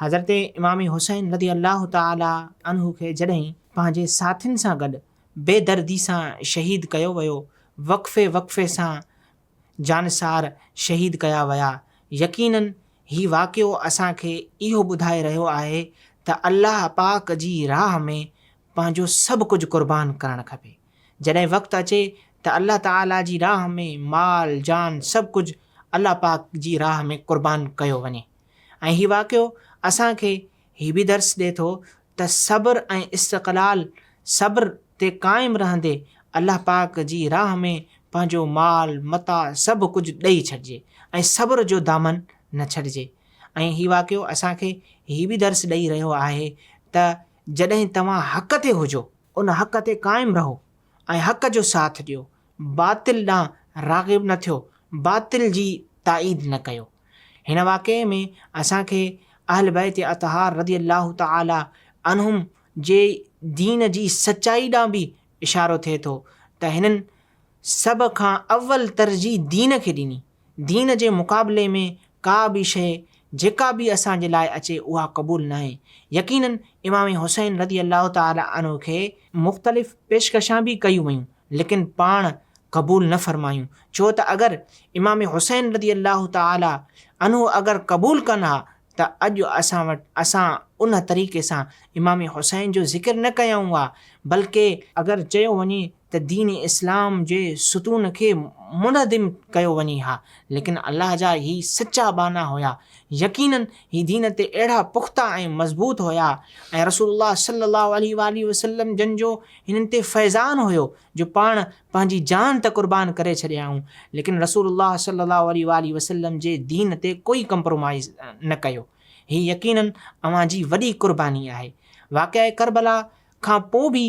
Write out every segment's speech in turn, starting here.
حضرت امام حسين رضي الله تعالٰي عنه کي جڏهن پنهنجي ساٿين سان گڏ بي دردي سان شهيد ڪيو ويو، وقفي وقفي سان جانثار شهيد ڪيا ويا، يقينن هي واقعو اسان کي اهو ٻڌائي رهيو آهي ته الله پاڪ جي راهه ۾ پنهنجو سڀ ڪجهه قربان ڪرڻ کپي. جڏهن وقت اچي ته الله تعالٰي جي راهه ۾ مال جان سڀ ڪجهه الله پاڪ جي راهه ۾ قربان ڪيو وڃي. ۽ هي واقعو اسان کي هي به درس ڏي ٿو ته صبر ۽ استقلال صبر تي قائم رهندي الله پاڪ جي راهه ۾ پنهنجو مال متاع سڀ ڪجهه ڏئي ڇڏجي ۽ صبر جو دامن نه ڇڏجي ۽ هي واقعو اسان کي هي به درس ڏئي رهيو آهي ته جڏهن توهان حق تي هجو ان حق تي قائم رهو ۽ حق جو ساٿ ڏيو باطل ڏانهن راغب نه ٿيو باطل جي تائيد نه ڪيو. هن واقعي ۾ اسان کي اهل بيت اطهار رضي الله تعالٰي عنهم جي دين جي سچائي ڏانهن به اشارو ٿئي ٿو ته هنن سڀ کان اول ترجيح دين کي ڏني، دين جي مقابلي ۾ ڪا به شيء جيڪا به اسان جي لاء اچي اها قبول ناهي، يقيناً امام حسين رضي الله تعالٰي عنه کي مختلف پيشڪشان به ڪيون ويون ليڪن پاڻ قبول نه فرمايون ڇو ته اگر امام حسين رضي الله تعالٰي عنه اگر قبول ڪن ها ته اڄ اسان وٽ اسان ان طريقي سان امام حسين جو ذڪر نه ڪيائون ها بلڪه اگر چيو وڃي ته دين اسلام جي ستون کي منهدم ڪيو وڃي ها ليڪن الله جا هي سچا ٻانها هيا يقيناً هي دين تي اهڙا پختا ۽ مضبوط هيا ۽ رسول الله صلي الله عليه واٰله وسلم جن جو هنن تي فيضان هيو جو پاڻ پنهنجي جان ته قربان ڪري ڇڏيائون ليڪن رسول الله صلي الله عليه واٰله وسلم جي دين تي ڪوئي ڪمپرومائيز نه ڪيو. هي يقينن اوهان جي وڏي قرباني آهي. واقعه ڪربلا کان پوء به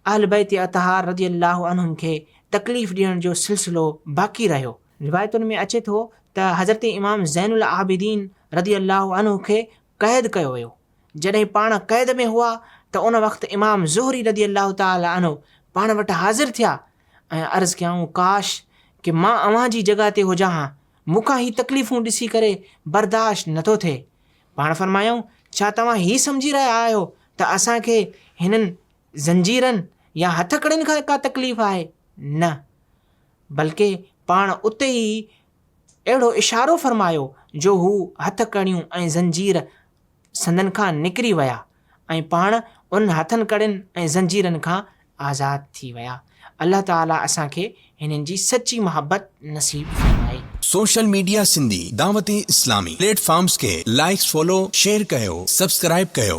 اهل بيت اطهار رضي الله عنهم کي تڪليف ڏيڻ جو سلسلو باقي رهيو. روايتن ۾ اچي ٿو ته حضرت امام زين العابدين رضي الله عنه کي قيد ڪيو ويو، جڏهن پاڻ قيد ۾ هئا ته ان وقت امام زهري رضي الله تعالٰي عنه پاڻ وٽ حاضر ٿيا ۽ عرض ڪيائون ڪاش ڪه مان اوهان جي جڳهه تي هجان ها، مون کان هي تڪليفون ڏسي ڪري برداشت نه ٿو ٿئي. پاڻ فرمايائون ڇا توهان هي سمجهي رهيا آهيو ته اسان کي هنن زنجيرن يا هٿڪڙين کان ڪا تڪليف آهي؟ نه بلڪه پاڻ اتي ئي اهڙو اشارو فرمايو جو هو هٿ ڪڙيون ۽ زنجير سندن کان نڪري ويا ۽ پاڻ انهن هٿن ڪڙين ۽ زنجيرن کان آزاد ٿي ويا. الله تعاليٰ اسان کي هنن جي سچي محبت نصيب فرمائي. Social media Sindhi Dawat Islami platforms کي لائيڪس فالو شيئر ڪيو سبسڪرائيب ڪيو.